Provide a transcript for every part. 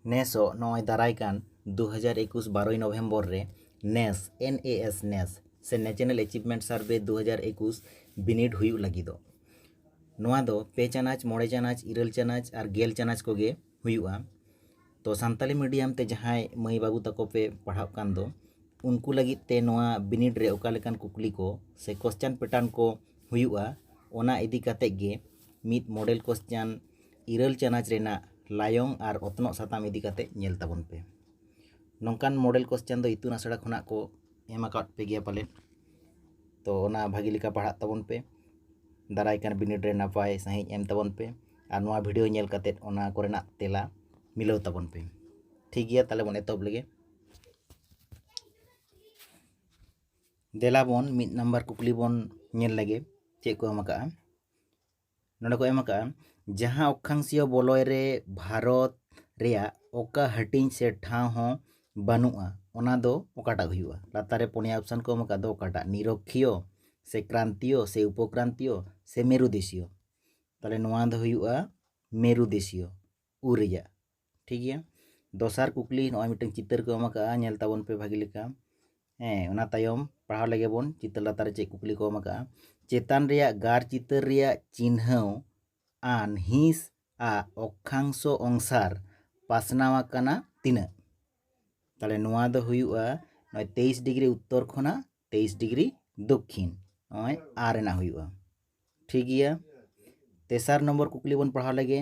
ᱱᱮᱥᱚᱜ ᱱᱚᱜᱼᱚᱭ ᱫᱟᱨᱟᱭ ᱠᱟᱱ ᱫᱩ ᱦᱟᱡᱟᱨ ᱮᱠᱩᱥ ᱵᱟᱨᱚᱭ ᱱᱚᱵᱷᱮᱢᱵᱚᱨ ᱨᱮ ᱱᱮᱥ ᱮᱱ ᱮ ᱮᱥ ᱱᱮᱥ ᱥᱮ ᱱᱮᱪᱮᱱᱮᱞ ᱮᱪᱤᱵᱷᱢᱮᱱᱴ ᱥᱟᱨᱵᱷᱮ ᱫᱩ ᱦᱟᱡᱟᱨ ᱮᱠᱩᱥ ᱵᱤᱱᱤᱰ ᱦᱩᱭᱩᱜ ᱞᱟᱹᱜᱤᱫᱚᱜ ᱱᱚᱣᱟ ᱫᱚ ᱯᱮ ᱪᱟᱱᱟᱪ ᱢᱚᱬᱮ ᱪᱟᱱᱟᱪ ᱤᱨᱟᱹᱞ ᱪᱟᱱᱟᱪ ᱟᱨ ᱜᱮᱞ ᱪᱟᱱᱟᱪ ᱠᱚᱜᱮ ᱦᱩᱭᱩᱜᱼᱟ ᱛᱚ ᱥᱟᱱᱛᱟᱞᱤ ᱢᱤᱰᱤᱭᱟᱢ ᱛᱮ ᱡᱟᱦᱟᱸᱭ ᱢᱟᱹᱭ ᱵᱟᱹᱵᱩ ᱛᱟᱠᱚ ᱯᱮ ᱯᱟᱲᱦᱟᱜ ᱠᱟᱱ ᱫᱚ ᱩᱱᱠᱩ ᱞᱟᱹᱜᱤᱫ ᱛᱮ ᱱᱚᱣᱟ ᱵᱤᱱᱤᱰ ᱨᱮ ᱚᱠᱟ ᱞᱮᱠᱟᱱ ᱠᱩᱠᱞᱤ ᱠᱚ ᱥᱮ ᱠᱚᱥᱪᱟᱱ ᱯᱮᱴᱟᱨᱱ ᱠᱚ ᱦᱩᱭᱩᱜᱼᱟ ᱚᱱᱟ ᱤᱫᱤ ᱠᱟᱛᱮᱫ ᱜᱮ ᱢᱤᱫ ᱢᱚᱰᱮᱞ ᱠᱚᱥᱪᱟᱱ ᱤᱨᱟᱹᱞ ᱪᱟᱱᱟᱪ ᱨᱮᱱᱟᱜ ᱞᱟᱭᱚᱝ ᱟᱨ ᱚᱛᱱᱚᱜ ᱥᱟᱛᱟᱢ ᱤᱫᱤ ᱠᱟᱛᱮ ᱧᱮᱞ ᱛᱟᱵᱚᱱ ᱯᱮ ᱱᱚᱝᱠᱟᱱ ᱢᱚᱰᱮᱞ ᱠᱚᱥᱪᱟᱱ ᱫᱚ ᱤᱛᱩᱱ ᱟᱥᱲᱟ ᱠᱷᱚᱱᱟᱜ ᱠᱚ ᱮᱢ ᱟᱠᱟᱫ ᱯᱮ ᱜᱮᱭᱟ ᱯᱟᱞᱮᱫ ᱛᱚ ᱚᱱᱟ ᱵᱷᱟᱹᱜᱤ ᱞᱮᱠᱟ ᱯᱟᱲᱦᱟᱜ ᱛᱟᱵᱚᱱ ᱯᱮ ᱫᱟᱨᱟᱭ ᱠᱟᱱ ᱵᱤᱱᱤᱰ ᱨᱮ ᱱᱟᱯᱟᱭ ᱥᱟᱺᱦᱤᱡ ᱮᱢ ᱛᱟᱵᱚᱱ ᱯᱮ ᱟᱨ ᱱᱚᱣᱟ ᱵᱷᱤᱰᱤᱭᱳ ᱧᱮᱞ ᱠᱟᱛᱮ ᱚᱱᱟ ᱠᱚᱨᱮᱱᱟᱜ ᱛᱮᱞᱟ ᱢᱤᱞᱟᱹᱣ ᱛᱟᱵᱚᱱ ᱯᱮ ᱴᱷᱤᱠ ᱜᱮᱭᱟ ᱛᱟᱦᱚᱞᱮ ᱵᱚᱱ ᱮᱛᱚᱦᱚᱵ ᱞᱮᱜᱮ ᱫᱮᱞᱟ ᱵᱚᱱ ᱢᱤᱫ ᱱᱟᱢᱵᱟᱨ ᱠᱩᱠᱞᱤ ᱵᱚᱱ ᱧᱮᱞ ᱞᱮᱜᱮ ᱪᱮᱫ ᱠᱚ ᱮᱢ ᱟᱠᱟᱫᱼᱟ ᱱᱚᱸᱰᱮ ᱠᱚ ᱮᱢ ᱟᱠᱟᱫᱼᱟ ᱡᱟᱦᱟᱸ ᱚᱠᱠᱷᱟᱝᱥᱤᱭᱚ ᱵᱚᱞᱚᱭ ᱨᱮ ᱵᱷᱟᱨᱚᱛ ᱨᱮᱭᱟᱜ ᱚᱠᱟ ᱦᱟᱹᱴᱤᱧ ᱥᱮ ᱴᱷᱟᱶ ᱦᱚᱸ ᱵᱟᱹᱱᱩᱜᱼᱟ ᱚᱱᱟ ᱫᱚ ᱚᱠᱟᱴᱟᱜ ᱦᱩᱭᱩᱜᱼᱟ ᱞᱟᱛᱟᱨ ᱨᱮ ᱯᱩᱱᱭᱟ ᱚᱯᱥᱟᱱ ᱠᱚ ᱮᱢ ᱟᱠᱟᱫ ᱫᱚ ᱚᱠᱟᱴᱟᱜ ᱱᱤᱨᱚᱠᱠᱷᱤᱭᱚ ᱥᱮ ᱠᱨᱟᱱᱛᱤᱭᱚ ᱥᱮ ᱩᱯᱚᱠᱨᱟᱱᱛᱤᱭᱚ ᱥᱮ ᱢᱮᱨᱩ ᱫᱮᱥᱤᱭᱚ ᱛᱟᱦᱚᱞᱮ ᱱᱚᱣᱟ ᱫᱚ ᱦᱩᱭᱩᱜᱼᱟ ᱢᱮᱨᱩ ᱫᱮᱥᱤᱭᱚ ᱩ ᱨᱮᱭᱟᱜ ᱴᱷᱤᱠ ᱜᱮᱭᱟ ᱫᱚᱥᱟᱨ ᱠᱩᱠᱞᱤ ᱱᱚᱜᱼᱚᱭ ᱢᱤᱫᱴᱟᱝ ᱪᱤᱛᱟᱹᱨ ᱠᱚ ᱮᱢ ᱟᱠᱟᱫᱼᱟ ᱧᱮᱞ ᱛᱟᱵᱚᱱ ᱯᱮ ᱵᱷᱟᱹᱜᱤ ᱞᱮᱠᱟ ᱦᱮᱸ ᱚᱱᱟ ᱛᱟᱭᱚᱢ ᱯᱟᱲᱦᱟᱣ ᱞᱮᱜᱮ ᱵᱚᱱ ᱪᱤᱛᱟᱹᱨ ᱞᱟᱛᱟᱨ ᱨᱮ ᱪᱮᱫ ᱠᱩᱠᱞᱤ ᱠᱚ ᱮᱢ ᱟᱠᱟᱫᱼᱟ ᱪᱮᱛᱟᱱ ᱨᱮᱭᱟᱜ ᱜᱟᱨ ᱪᱤᱛᱟᱹᱨ ᱨᱮᱭᱟᱜ ᱪᱤᱱᱦᱟᱹᱣ ᱟᱱ ᱦᱤᱸᱥ ᱟᱜ ᱚᱠᱠᱷᱟᱝᱥᱚ ᱚᱝᱥᱟᱨ ᱯᱟᱥᱱᱟᱣ ᱟᱠᱟᱱᱟ ᱛᱤᱱᱟᱹᱜ ᱛᱟᱦᱚᱞᱮ ᱱᱚᱣᱟ ᱫᱚ ᱦᱩᱭᱩᱜᱼᱟ ᱱᱚᱜᱼᱚᱭ ᱛᱮᱭᱤᱥ ᱰᱤᱜᱽᱨᱤ ᱩᱛᱛᱚᱨ ᱠᱷᱚᱱᱟᱜ ᱛᱮᱭᱤᱥ ᱰᱤᱜᱽᱨᱤ ᱫᱚᱠᱠᱷᱤᱱ ᱱᱚᱜᱼᱚᱭ ᱟ ᱨᱮᱱᱟᱜ ᱦᱩᱭᱩᱜᱼᱟ ᱴᱷᱤᱠ ᱜᱮᱭᱟ ᱛᱮᱥᱟᱨ ᱱᱚᱢᱵᱚᱨ ᱠᱩᱠᱞᱤ ᱵᱚᱱ ᱯᱟᱲᱦᱟᱣ ᱞᱮᱜᱮ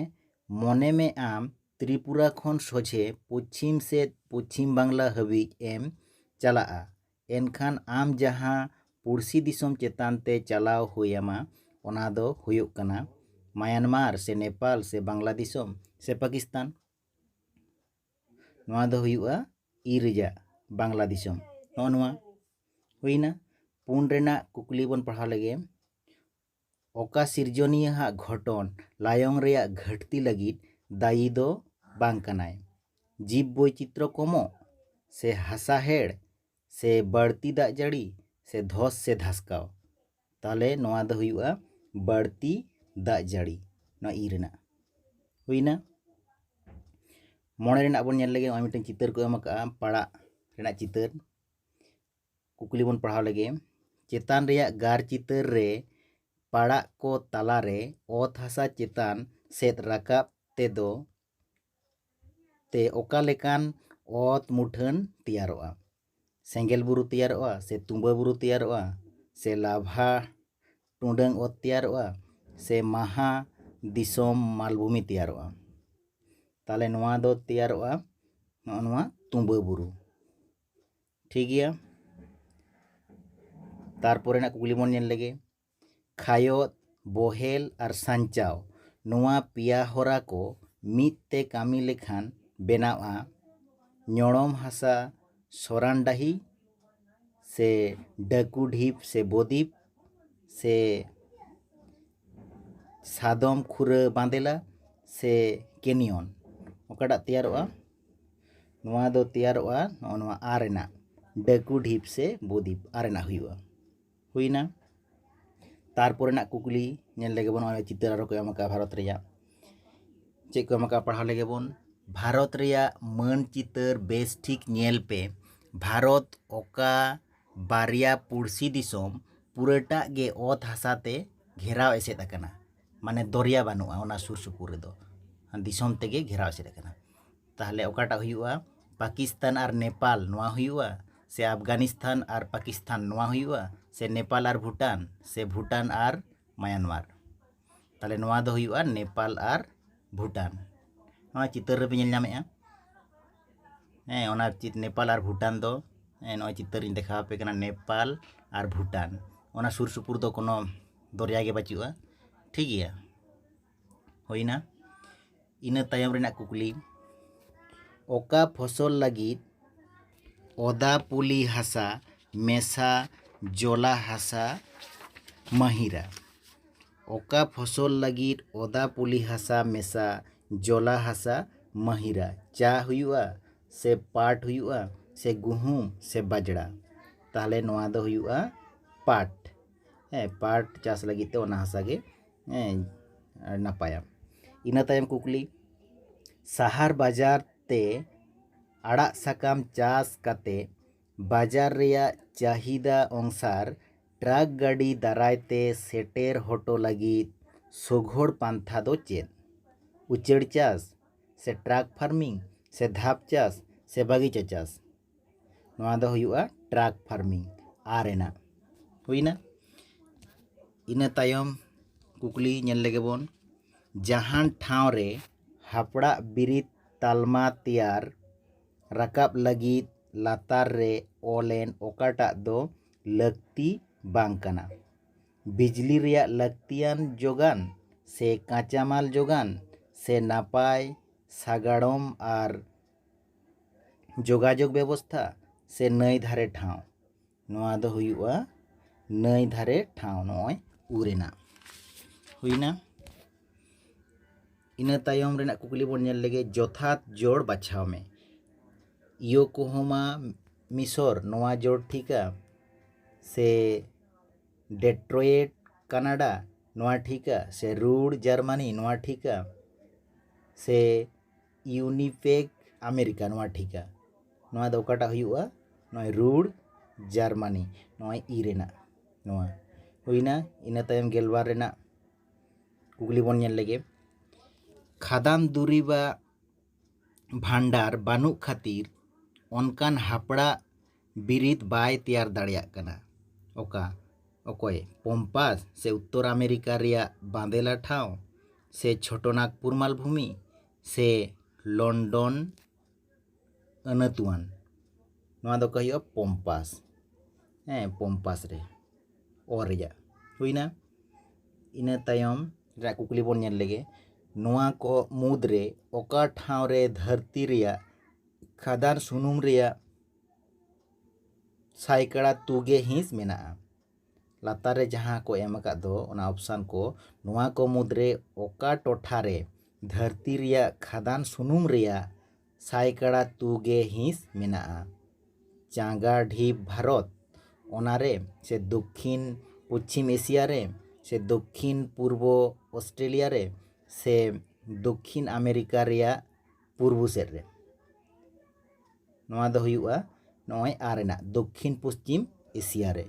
ᱢᱚᱱᱮ ᱢᱮ ᱟᱢ ᱛᱨᱤᱯᱩᱨᱟ ᱠᱷᱚᱱ ᱥᱚᱡᱷᱮ ᱯᱚᱪᱷᱤᱢ ᱥᱮᱫ ᱯᱚᱪᱷᱤᱢ ᱵᱟᱝᱞᱟ ᱦᱟᱹᱵᱤᱡ ᱮᱢ ᱪᱟᱞᱟᱜᱼᱟ ᱮᱱᱠᱷᱟᱱ ᱟᱢ ᱡᱟᱦᱟᱸ ᱯᱩᱲᱥᱤ ᱫᱤᱥᱚᱢ ᱪᱮᱛᱟᱱ ᱛᱮ ᱪᱟᱞᱟᱣ ᱦᱩᱭ ᱟᱢᱟ ᱚᱱᱟ ᱫᱚ ᱦᱩᱭᱩᱜ ᱠᱟᱱᱟ ᱢᱟᱭᱟᱱᱢᱟᱨ ᱥᱮ ᱱᱮᱯᱟᱞ ᱥᱮ ᱵᱟᱝᱞᱟ ᱫᱤᱥᱚᱢ ᱥᱮ ᱯᱟᱠᱤᱥᱛᱟᱱ ᱱᱚᱣᱟ ᱫᱚ ᱦᱩᱭᱩᱜᱼᱟ ᱤ ᱨᱮᱭᱟᱜ ᱵᱟᱝᱞᱟ ᱫᱤᱥᱚᱢ ᱱᱚᱜᱼᱚ ᱱᱚᱣᱟ ᱦᱩᱭᱱᱟ ᱯᱩᱱ ᱨᱮᱱᱟᱜ ᱠᱩᱠᱞᱤ ᱵᱚᱱ ᱯᱟᱲᱦᱟᱣ ᱞᱮᱜᱮ ᱚᱠᱟ ᱥᱤᱨᱡᱚᱱᱤᱭᱟᱹᱣᱟᱜ ᱜᱷᱚᱴᱚᱱ ᱞᱟᱭᱚᱝ ᱨᱮᱭᱟᱜ ᱜᱷᱟᱹᱴᱛᱤ ᱞᱟᱹᱜᱤᱫ ᱫᱟᱭᱤ ᱫᱚ ᱵᱟᱝ ᱠᱟᱱᱟᱭ ᱡᱤᱵᱽ ᱵᱳᱭᱪᱤᱛᱨᱚ ᱠᱚᱢᱚᱜ ᱥᱮ ᱦᱟᱥᱟ ᱦᱮᱲ ᱥᱮ ᱵᱟᱹᱲᱛᱤ ᱫᱟᱜ ᱡᱟᱹᱲᱤ ᱥᱮ ᱫᱷᱚᱥ ᱥᱮ ᱫᱷᱟᱥᱠᱟᱣ ᱛᱟᱦᱚᱞᱮ ᱱᱚᱣᱟ ᱫᱚ ᱦᱩᱭᱩᱜᱼᱟ ᱵᱟᱹᱲᱛᱤ ᱫᱟᱜ ᱡᱟᱹᱲᱤ ᱱᱚᱣᱟ ᱤ ᱨᱮᱱᱟᱜ ᱦᱩᱭᱱᱟ ᱢᱚᱬᱮ ᱨᱮᱱᱟᱜ ᱵᱚᱱ ᱧᱮᱞ ᱞᱮᱜᱮ ᱱᱚᱜᱼᱚᱭ ᱢᱤᱫᱴᱮᱱ ᱪᱤᱛᱟᱹᱨ ᱠᱚ ᱮᱢ ᱟᱠᱟᱜᱼᱟ ᱯᱟᱲᱟᱜ ᱨᱮᱱᱟᱜ ᱪᱤᱛᱟᱹᱨ ᱠᱩᱠᱞᱤ ᱵᱚᱱ ᱯᱟᱲᱦᱟᱣ ᱞᱮᱜᱮ ᱪᱮᱛᱟᱱ ᱨᱮᱭᱟᱜ ᱜᱟᱨ ᱪᱤᱛᱟᱹᱨ ᱨᱮ ᱯᱟᱲᱟᱜ ᱠᱚ ᱛᱟᱞᱟᱨᱮ ᱚᱛ ᱦᱟᱥᱟ ᱪᱮᱛᱟᱱ ᱥᱮᱫ ᱨᱟᱠᱟᱵ ᱛᱮᱫᱚ ᱛᱮ ᱚᱠᱟ ᱞᱮᱠᱟᱱ ᱚᱛ ᱢᱩᱴᱷᱟᱹᱱ ᱛᱮᱭᱟᱨᱚᱜᱼᱟ ᱥᱮᱸᱜᱮᱞ ᱵᱩᱨᱩ ᱛᱮᱭᱟᱨᱚᱜᱼᱟ ᱥᱮ ᱛᱩᱢᱵᱟᱹ ᱵᱩᱨᱩ ᱛᱮᱭᱟᱨᱚᱜᱼᱟ ᱥᱮ ᱞᱟᱵᱷᱟ ᱴᱩᱰᱟᱹᱝ ᱚᱛ ᱛᱮᱭᱟᱨᱚᱜᱼᱟ ᱥᱮ ᱢᱟᱦᱟ ᱫᱤᱥᱚᱢ ᱢᱟᱞᱵᱷᱩᱢᱤ ᱛᱮᱭᱟᱨᱚᱜᱼᱟ ᱛᱟᱦᱚᱞᱮ ᱱᱚᱣᱟ ᱫᱚ ᱛᱮᱭᱟᱨᱚᱜᱼᱟ ᱱᱚᱜᱼᱚ ᱱᱚᱣᱟ ᱛᱩᱢᱵᱟᱹ ᱵᱩᱨᱩ ᱴᱷᱤᱠ ᱜᱮᱭᱟ ᱛᱟᱨᱯᱚᱨᱮᱱᱟᱜ ᱠᱩᱠᱞᱤ ᱵᱚᱱ ᱧᱮᱞ ᱞᱮᱜᱮ ᱠᱷᱟᱭᱚᱛ, ᱵᱚᱦᱮᱞ ᱟᱨ ᱥᱟᱧᱪᱟᱣ ᱱᱚᱣᱟ ᱯᱮᱭᱟ ᱦᱚᱨᱟ ᱠᱚ ᱢᱤᱫ ᱛᱮ ᱠᱟᱹᱢᱤ ᱞᱮᱠᱷᱟᱱ ᱵᱮᱱᱟᱣᱜᱼᱟ ᱧᱚᱲᱚᱢ ᱦᱟᱥᱟ ᱥᱚᱨᱟᱱ ᱰᱟᱹᱦᱤ ᱥᱮ ᱰᱟᱹᱠᱩ ᱰᱷᱤᱯ ᱥᱮ ᱵᱚᱫᱤᱯ ᱥᱮ ᱥᱟᱫᱚᱢ ᱠᱷᱩᱨᱟᱹ ᱵᱟᱸᱫᱮᱞᱟ ᱥᱮ ᱠᱮᱱᱤᱭᱚᱱ ᱚᱠᱟᱴᱟᱜ ᱛᱮᱭᱟᱨᱚᱜᱼᱟ ᱱᱚᱣᱟ ᱫᱚ ᱛᱮᱭᱟᱨᱚᱜᱼᱟ ᱱᱚᱜᱼᱚ ᱱᱚᱣᱟ ᱟᱨ ᱨᱮᱱᱟᱜ ᱰᱟᱹᱠᱩ ᱰᱷᱤᱯ ᱥᱮ ᱵᱚᱫᱤᱯ ᱟᱨ ᱨᱮᱱᱟᱜ ᱦᱩᱭᱩᱜᱼᱟ ᱦᱩᱭᱮᱱᱟ ᱛᱟᱨᱯᱚᱨᱮ ᱨᱮᱱᱟᱜ ᱠᱩᱠᱞᱤ ᱧᱮᱞ ᱞᱮᱜᱮ ᱵᱚᱱ ᱱᱚᱜᱼᱚᱭ ᱪᱤᱛᱟᱹᱨ ᱟᱨᱚ ᱠᱚ ᱮᱢ ᱟᱠᱟᱫᱼᱟ ᱵᱷᱟᱨᱚᱛ ᱨᱮᱭᱟᱜ ᱪᱮᱫ ᱠᱚ ᱮᱢ ᱟᱠᱟᱫᱼᱟ ᱯᱟᱲᱦᱟᱣ ᱞᱮᱜᱮ ᱵᱚᱱ ᱵᱷᱟᱨᱚᱛ ᱨᱮᱭᱟᱜ ᱢᱟᱹᱱ ᱪᱤᱛᱟᱹᱨ ᱵᱮᱥ ᱴᱷᱤᱠ ᱧᱮᱞ ᱯᱮ ᱵᱷᱟᱨᱚᱛ ᱚᱠᱟ ᱵᱟᱨᱭᱟ ᱯᱩᱲᱥᱤ ᱫᱤᱥᱚᱢ ᱯᱩᱨᱟᱹᱴᱟᱜ ᱜᱮ ᱚᱛ ᱦᱟᱥᱟ ᱛᱮ ᱜᱷᱮᱨᱟᱣ ᱮᱥᱮᱫ ᱟᱠᱟᱱᱟ ᱢᱟᱱᱮ ᱫᱚᱨᱭᱟ ᱵᱟᱹᱱᱩᱜᱼᱟ ᱚᱱᱟ ᱥᱩᱨ ᱥᱩᱯᱩᱨ ᱨᱮᱫᱚ ᱫᱤᱥᱚᱢ ᱛᱮᱜᱮ ᱜᱷᱮᱨᱟᱣ ᱮᱥᱮᱫ ᱟᱠᱟᱱᱟ ᱛᱟᱦᱚᱞᱮ ᱚᱠᱟᱴᱟᱜ ᱦᱩᱭᱩᱜᱼᱟ ᱯᱟᱠᱤᱥᱛᱟᱱ ᱟᱨ ᱱᱮᱯᱟᱞ ᱱᱚᱣᱟ ᱦᱩᱭᱩᱜᱼᱟ ᱥᱮ ᱟᱯᱷᱜᱟᱱᱤᱥᱛᱟᱱ ᱟᱨ ᱯᱟᱠᱤᱥᱛᱟᱱ ᱱᱚᱣᱟ ᱦᱩᱭᱩᱜᱼᱟ ᱥᱮ ᱱᱮᱯᱟᱞ ᱟᱨ ᱵᱷᱩᱴᱟᱱ ᱥᱮ ᱵᱷᱩᱴᱟᱱ ᱟᱨ ᱢᱟᱭᱟᱱᱢᱟᱨ ᱛᱟᱦᱚᱞᱮ ᱱᱚᱣᱟ ᱫᱚ ᱦᱩᱭᱩᱜᱼᱟ ᱱᱮᱯᱟᱞ ᱟᱨ ᱵᱷᱩᱴᱟᱱ ᱱᱚᱣᱟ ᱪᱤᱛᱟᱹᱨ ᱨᱮᱯᱮ ᱧᱮᱞ ᱧᱟᱢᱮᱫᱼᱟ ᱦᱮᱸ ᱚᱱᱟ ᱱᱮᱯᱟᱞ ᱟᱨ ᱵᱷᱩᱴᱟᱱ ᱫᱚ ᱱᱚᱜᱼᱚᱭ ᱪᱤᱛᱟᱹᱨᱤᱧ ᱫᱮᱠᱷᱟᱣ ᱟᱯᱮ ᱠᱟᱱᱟ ᱱᱮᱯᱟᱞ ᱟᱨ ᱵᱷᱩᱴᱟᱱ ᱚᱱᱟ ᱥᱩᱨ ᱥᱩᱯᱩᱨ ᱫᱚ ᱠᱳᱱᱳ ᱫᱚᱨᱭᱟ ᱜᱮ ᱵᱟᱹᱪᱩᱜᱼᱟ ᱴᱷᱤᱠ ᱜᱮᱭᱟ ᱦᱩᱭᱱᱟ ᱤᱱᱟᱹ ᱛᱟᱭᱚᱢ ᱨᱮᱱᱟᱜ ᱠᱩᱠᱞᱤ ᱚᱠᱟ ᱯᱷᱚᱥᱚᱞ ᱞᱟᱹᱜᱤᱫ ᱚᱫᱟ ᱯᱩᱞᱤ ᱦᱟᱥᱟ ᱢᱮᱥᱟ ᱡᱚᱞᱟ ᱦᱟᱥᱟ ᱢᱟᱹᱦᱤᱨᱟ ᱚᱠᱟ ᱯᱷᱚᱥᱚᱞ ᱞᱟᱹᱜᱤᱫ ᱚᱫᱟ ᱯᱩᱞᱤ ᱦᱟᱥᱟ ᱢᱮᱥᱟ ᱡᱚᱞᱟ ᱦᱟᱥᱟ ᱢᱟᱹᱦᱤᱨᱟ ᱪᱟ ᱦᱩᱭᱩᱜᱼᱟ ᱥᱮ ᱯᱟᱴ ᱦᱩᱭᱩᱜᱼᱟ ᱥᱮ ᱜᱩᱦᱩᱢ ᱥᱮ ᱵᱟᱡᱽᱲᱟ ᱛᱟᱦᱚᱞᱮ ᱱᱚᱣᱟ ᱫᱚ ᱦᱩᱭᱩᱜᱼᱟ ᱯᱟᱴ ᱦᱮᱸ ᱯᱟᱴ ᱪᱟᱥ ᱞᱟᱹᱜᱤᱫ ᱛᱮ ᱚᱱᱟ ᱦᱟᱥᱟ ᱜᱮ ᱱᱟᱯᱟᱭᱟ ᱤᱱᱟᱹ ᱛᱟᱭᱚᱢ ᱠᱩᱠᱞᱤ ᱥᱟᱦᱟᱨ ᱵᱟᱡᱟᱨ ᱛᱮ ᱟᱲᱟᱜ ᱥᱟᱠᱟᱢ ᱪᱟᱥ ᱠᱟᱛᱮ ᱵᱟᱡᱟᱨ ᱨᱮᱭᱟᱜ ᱪᱟᱹᱦᱤᱫᱟ ᱚᱝᱥᱟᱨ ᱴᱨᱟᱠ ᱜᱟᱹᱰᱤ ᱫᱟᱨᱟᱭ ᱛᱮ ᱥᱮᱴᱮᱨ ᱦᱚᱴᱚ ᱞᱟᱹᱜᱤᱫ ᱥᱚᱜᱷᱚᱲ ᱯᱟᱱᱛᱷᱟ ᱫᱚ ᱪᱮᱫ ᱩᱪᱟᱹᱲ ᱪᱟᱥ ᱥᱮ ᱴᱨᱟᱠ ᱯᱷᱟᱨᱢᱤᱝ ᱥᱮ ᱫᱷᱟᱯ ᱪᱟᱥ ᱥᱮ ᱵᱟᱹᱜᱤᱪᱟ ᱪᱟᱥ ᱱᱚᱣᱟ ᱫᱚ ᱦᱩᱭᱩᱜᱼᱟ ᱴᱨᱟᱠ ᱯᱷᱟᱨᱢᱤᱝ ᱟᱨ ᱨᱮᱱᱟᱜ ᱦᱩᱭᱱᱟ ᱤᱱᱟᱹ ᱛᱟᱭᱚᱢ ᱠᱩᱠᱞᱤ ᱧᱮᱞ ᱞᱮᱜᱮ ᱵᱚᱱ ᱡᱟᱦᱟᱱ ᱴᱷᱟᱶ ᱨᱮ ᱦᱟᱯᱲᱟᱜ ᱵᱤᱨᱤᱫ ᱛᱟᱞᱢᱟ ᱛᱮᱭᱟᱨ ᱨᱟᱠᱟᱵ ᱞᱟᱹᱜᱤᱫ ᱞᱟᱛᱟᱨ ᱨᱮ ᱚᱞ ᱮᱱ ᱚᱠᱟᱴᱟᱜ ᱫᱚ ᱞᱟᱹᱠᱛᱤ ᱵᱟᱝ ᱠᱟᱱᱟ ᱵᱤᱡᱽᱞᱤ ᱨᱮᱭᱟᱜ ᱞᱟᱹᱠᱛᱤᱭᱟᱱ ᱡᱳᱜᱟᱱ ᱥᱮ ᱠᱟᱸᱪᱟᱢᱟᱞ ᱡᱳᱜᱟᱱ ᱥᱮ ᱱᱟᱯᱟᱭ ᱥᱟᱜᱟᱲᱚᱢ ᱟᱨ ᱡᱳᱜᱟᱡᱳᱜᱽ ᱵᱮᱵᱚᱥᱛᱷᱟ ᱥᱮ ᱱᱟᱹᱭ ᱫᱷᱟᱨᱮ ᱴᱷᱟᱶ ᱱᱚᱣᱟ ᱫᱚ ᱦᱩᱭᱩᱜᱼᱟ ᱱᱟᱹᱭ ᱫᱷᱟᱨᱮ ᱴᱷᱟᱶ ᱱᱚᱜᱼᱚᱭ ᱩ ᱨᱮᱱᱟᱜ ᱦᱩᱭᱱᱟ ᱤᱱᱟᱹ ᱛᱟᱭᱚᱢ ᱨᱮᱱᱟᱜ ᱠᱩᱠᱞᱤ ᱵᱚᱱ ᱧᱮᱞ ᱞᱮᱜᱮ ᱡᱚᱛᱷᱟᱛ ᱡᱚᱲ ᱵᱟᱪᱷᱟᱣ ᱢᱮ ᱤᱭᱳᱠᱳᱦᱳᱢᱟ ᱢᱤᱥᱚᱨ ᱱᱚᱣᱟ ᱡᱚᱲ ᱴᱷᱤᱠᱟ ᱥᱮ ᱰᱮᱴᱨᱚᱭᱮᱴ ᱠᱟᱱᱟᱰᱟ ᱱᱚᱣᱟ ᱴᱷᱤᱠᱟ ᱥᱮ ᱨᱩᱲ ᱡᱟᱨᱢᱟᱱᱤ ᱱᱚᱣᱟ ᱴᱷᱤᱠᱟ ᱥᱮ ᱤᱭᱩᱱᱤᱯᱮᱠ ᱟᱢᱮᱨᱤᱠᱟ ᱱᱚᱣᱟ ᱴᱷᱤᱠᱟ ᱱᱚᱣᱟ ᱫᱚ ᱚᱠᱟᱴᱟᱜ ᱦᱩᱭᱩᱜᱼᱟ ᱱᱚᱜᱼᱚᱭ ᱨᱩᱲ ᱡᱟᱨᱢᱟᱱᱤ ᱱᱚᱜᱼᱚᱭ ᱤ ᱨᱮᱱᱟᱜ ᱱᱚᱣᱟ ᱦᱩᱭᱱᱟ ᱤᱱᱟᱹ ᱛᱟᱭᱚᱢ ᱜᱮᱞᱵᱟᱨ ᱨᱮᱱᱟᱜ ᱠᱩᱠᱞᱤ ᱵᱚᱱ ᱧᱮᱞ ᱞᱮᱜᱮ ᱠᱷᱟᱫᱟᱱ ᱫᱩᱨᱤᱵᱟᱜ ᱵᱷᱟᱱᱰᱟᱨ ᱵᱟᱹᱱᱩᱜ ᱠᱷᱟᱹᱛᱤᱨ ᱚᱱᱠᱟᱱ ᱦᱟᱯᱲᱟᱜ ᱵᱤᱨᱤᱫ ᱵᱟᱭ ᱛᱮᱭᱟᱨ ᱫᱟᱲᱮᱭᱟᱜ ᱠᱟᱱᱟ᱾ ᱚᱠᱟ ᱚᱠᱚᱭ ᱯᱚᱢᱯᱟᱥ ᱥᱮ ᱩᱛᱛᱚᱨ ᱟᱢᱮᱨᱤᱠᱟ ᱨᱮᱭᱟᱜ ᱵᱟᱸᱫᱮᱞᱟ ᱴᱷᱟᱶ ᱥᱮ ᱪᱷᱚᱴᱚᱱᱟᱜᱽᱯᱩᱨ ᱢᱟᱞᱵᱷᱩᱢᱤ ᱥᱮ ᱞᱚᱱᱰᱚᱱ ᱟᱹᱱᱟᱹᱛᱩᱣᱟᱱ ᱱᱚᱣᱟ ᱫᱚ ᱚᱠᱟ ᱦᱩᱭᱩᱜᱼᱟ ᱯᱚᱢᱯᱟᱥ ᱦᱮᱸ ᱯᱚᱢᱯᱟᱥ ᱨᱮ ᱚ ᱨᱮᱭᱟᱜ ᱦᱩᱭᱱᱟ ᱤᱱᱟᱹ ᱛᱟᱭᱚᱢ ᱨᱮᱭᱟᱜ ᱠᱩᱠᱞᱤ ᱵᱚᱱ ᱧᱮᱞ ᱞᱮᱜᱮ ᱱᱚᱣᱟ ᱠᱚ ᱢᱩᱫᱽᱨᱮ ᱚᱠᱟ ᱴᱷᱟᱶ ᱨᱮ ᱫᱷᱟᱹᱨᱛᱤ ᱨᱮᱭᱟᱜ ᱠᱷᱟᱫᱟᱱ ᱥᱩᱱᱩᱢ ᱨᱮᱭᱟᱜ ᱥᱟᱭᱠᱟᱲᱟ ᱛᱩᱜᱮ ᱦᱤᱸᱥ ᱢᱮᱱᱟᱜᱼᱟ᱾ ᱞᱟᱛᱟᱨ ᱨᱮ ᱡᱟᱦᱟᱸ ᱠᱚ ᱮᱢ ᱟᱠᱟᱫ ᱫᱚ ᱚᱱᱟ ᱚᱯᱥᱟᱱ ᱠᱚ ᱱᱚᱣᱟ ᱠᱚ ᱢᱩᱫᱽ ᱨᱮ ᱚᱠᱟ ᱴᱚᱴᱷᱟ ᱨᱮ ᱫᱷᱟᱹᱨᱛᱤ ᱨᱮᱭᱟᱜ ᱠᱷᱟᱫᱟᱱ ᱥᱩᱱᱩᱢ ᱨᱮᱭᱟᱜ ᱥᱟᱭᱠᱟᱲᱟ ᱛᱩᱜᱮ ᱦᱤᱸᱥ ᱢᱮᱱᱟᱜᱼᱟ? ᱪᱟᱸᱜᱟ ᱰᱷᱤᱯ ᱵᱷᱟᱨᱚᱛ, ᱚᱱᱟ ᱨᱮ ᱥᱮ ᱫᱚᱠᱷᱤᱱ ᱯᱚᱪᱷᱤᱢ ᱮᱥᱤᱭᱟ ᱨᱮ ᱥᱮ ᱫᱚᱠᱷᱤᱱ ᱯᱩᱨᱵᱚ ᱚᱥᱴᱨᱮᱞᱤᱭᱟ ᱨᱮ ᱥᱮ ᱫᱚᱠᱷᱤᱱ ᱟᱢᱮᱨᱤᱠᱟ ᱨᱮᱭᱟᱜ ᱯᱩᱨᱵᱚ ᱥᱮᱫ ᱨᱮ ᱱᱚᱣᱟ ᱫᱚ ᱦᱩᱭᱩᱜᱼᱟ ᱱᱚᱜᱼᱚᱭ ᱟᱨ ᱨᱮᱱᱟᱜ ᱫᱚᱠᱠᱷᱤᱱ ᱯᱚᱥᱪᱤᱢ ᱮᱥᱤᱭᱟ ᱨᱮ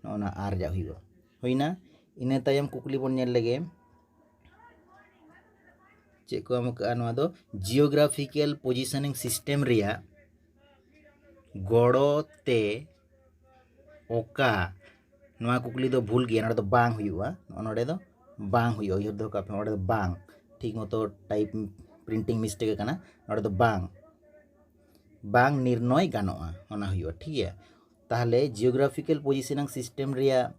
ᱱᱚᱜᱼᱚ ᱱᱟ ᱟᱨ ᱨᱮᱭᱟᱜ ᱦᱩᱭᱩᱜᱼᱟ ᱦᱩᱭᱱᱟ ᱤᱱᱟᱹ ᱛᱟᱭᱚᱢ ᱠᱩᱠᱞᱤ ᱵᱚᱱ ᱧᱮᱞ ᱞᱮᱜᱮ ᱪᱮᱫ ᱠᱚ ᱮᱢ ᱠᱟᱜᱼᱟ ᱱᱚᱣᱟ ᱫᱚ ᱡᱤᱭᱳᱜᱨᱟᱯᱷᱤᱠᱮᱞ ᱯᱚᱡᱤᱥᱚᱱᱤᱝ ᱥᱤᱥᱴᱮᱢ ᱨᱮᱭᱟᱜ ᱜᱚᱲᱚ ᱛᱮ ᱚᱠᱟ ᱱᱚᱣᱟ ᱠᱩᱠᱞᱤ ᱫᱚ ᱵᱷᱩᱞ ᱜᱮᱭᱟ ᱱᱚᱸᱰᱮ ᱫᱚ ᱵᱟᱝ ᱦᱩᱭᱩᱜᱼᱟ ᱱᱚᱜᱼᱚ ᱱᱚᱸᱰᱮ ᱫᱚ ᱵᱟᱝ ᱦᱩᱭᱩᱜᱼᱟ ᱩᱭᱦᱟᱹᱨ ᱫᱚᱦᱚ ᱠᱟᱜ ᱯᱮ ᱱᱚᱸᱰᱮ ᱫᱚ ᱵᱟᱝ ᱴᱷᱤᱠ ᱢᱚᱛᱚ ᱴᱟᱭᱤᱯ ᱯᱨᱤᱱᱴᱤᱝ ᱢᱤᱥᱴᱮᱠ ᱟᱠᱟᱱᱟ ᱱᱚᱸᱰᱮ ᱫᱚ ᱵᱟᱝ ᱵᱟᱝ ᱱᱤᱨᱱᱚᱭ ᱜᱟᱱᱚᱜᱼᱟ ᱚᱱᱟ ᱦᱩᱭᱩᱜᱼᱟ ᱴᱷᱤᱠ ᱜᱮᱭᱟ ᱛᱟᱦᱚᱞᱮ ᱡᱤᱭᱳᱜᱨᱟᱯᱷᱤᱠᱮᱞ ᱯᱚᱡᱤᱥᱚᱱᱤᱝ ᱥᱤᱥᱴᱮᱢ ᱨᱮᱭᱟᱜ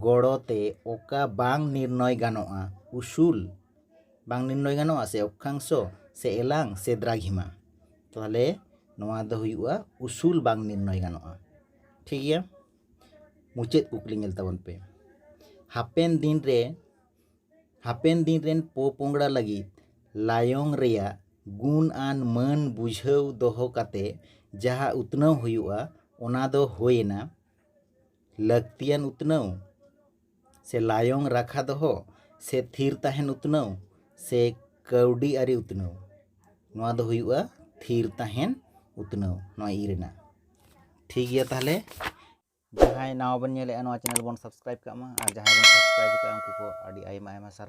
ᱜᱚᱲᱚ ᱛᱮ ᱚᱠᱟ ᱵᱟᱝ ᱱᱤᱨᱱᱚᱭ ᱜᱟᱱᱚᱜᱼᱟ ᱩᱥᱩᱞ ᱵᱟᱝ ᱱᱤᱨᱱᱚᱭ ᱜᱟᱱᱚᱜᱼᱟ ᱥᱮ ᱚᱠᱠᱷᱟᱝᱥᱚ ᱥᱮ ᱮᱞᱟᱝ ᱥᱮ ᱫᱨᱟᱜᱷᱤᱢᱟ ᱛᱟᱦᱚᱞᱮ ᱱᱚᱣᱟ ᱫᱚ ᱦᱩᱭᱩᱜᱼᱟ ᱩᱥᱩᱞ ᱵᱟᱝ ᱱᱤᱨᱱᱚᱭ ᱜᱟᱱᱚᱜᱼᱟ ᱴᱷᱤᱠ ᱜᱮᱭᱟ ᱢᱩᱪᱟᱹᱫ ᱠᱩᱠᱞᱤ ᱧᱮᱞ ᱛᱟᱵᱚᱱ ᱯᱮ ᱦᱟᱯᱮᱱ ᱫᱤᱱ ᱨᱮ ᱦᱟᱯᱮᱱ ᱫᱤᱱ ᱨᱮᱱ ᱯᱚᱯᱚᱝᱲᱟ ᱞᱟᱹᱜᱤᱫ ᱞᱟᱭᱚᱝ ᱨᱮᱭᱟᱜ ᱜᱩᱱ ᱟᱱ ᱢᱟᱹᱱ ᱵᱩᱡᱷᱟᱹᱣ ᱫᱚᱦᱚ ᱠᱟᱛᱮ ᱡᱟᱦᱟᱸ ᱩᱛᱱᱟᱹᱣ ᱦᱩᱭᱩᱜᱼᱟ ᱚᱱᱟ ᱫᱚ ᱦᱩᱭᱮᱱᱟ ᱞᱟᱹᱠᱛᱤᱭᱟᱱ ᱩᱛᱱᱟᱹᱣ ᱥᱮ ᱞᱟᱭᱚᱝ ᱨᱟᱠᱷᱟ ᱫᱚᱦᱚ ᱥᱮ ᱛᱷᱤᱨ ᱛᱟᱦᱮᱱ ᱩᱛᱱᱟᱹᱣ ᱥᱮ ᱠᱟᱹᱣᱰᱤ ᱟᱹᱨᱤ ᱩᱛᱱᱟᱹᱣ ᱱᱚᱣᱟ ᱫᱚ ᱦᱩᱭᱩᱜᱼᱟ ᱛᱷᱤᱨ ᱛᱟᱦᱮᱱ ᱩᱛᱱᱟᱹᱣ ᱱᱚᱣᱟ ᱤ ᱨᱮᱱᱟᱜ ᱴᱷᱤᱠ ᱜᱮᱭᱟ ᱛᱟᱦᱚᱞᱮ ᱡᱟᱦᱟᱸᱭ ᱱᱟᱣᱟ ᱵᱚᱱ ᱧᱮᱞᱮᱫᱼᱟ ᱱᱚᱣᱟ ᱪᱮᱱᱮᱞ ᱵᱚᱱ ᱥᱟᱵᱥᱠᱨᱟᱭᱤᱵᱽ ᱠᱟᱜ ᱢᱟ ᱟᱨ ᱡᱟᱦᱟᱸᱭ ᱵᱚᱱ ᱥᱟᱵᱥᱠᱨᱟᱭᱤᱵᱽ ᱠᱟᱜᱼᱟ ᱩᱱᱠᱩ ᱠᱚ ᱟᱹᱰᱤ ᱟᱭᱢᱟ ᱟᱭᱢᱟ ᱥᱟᱨᱦᱟᱣ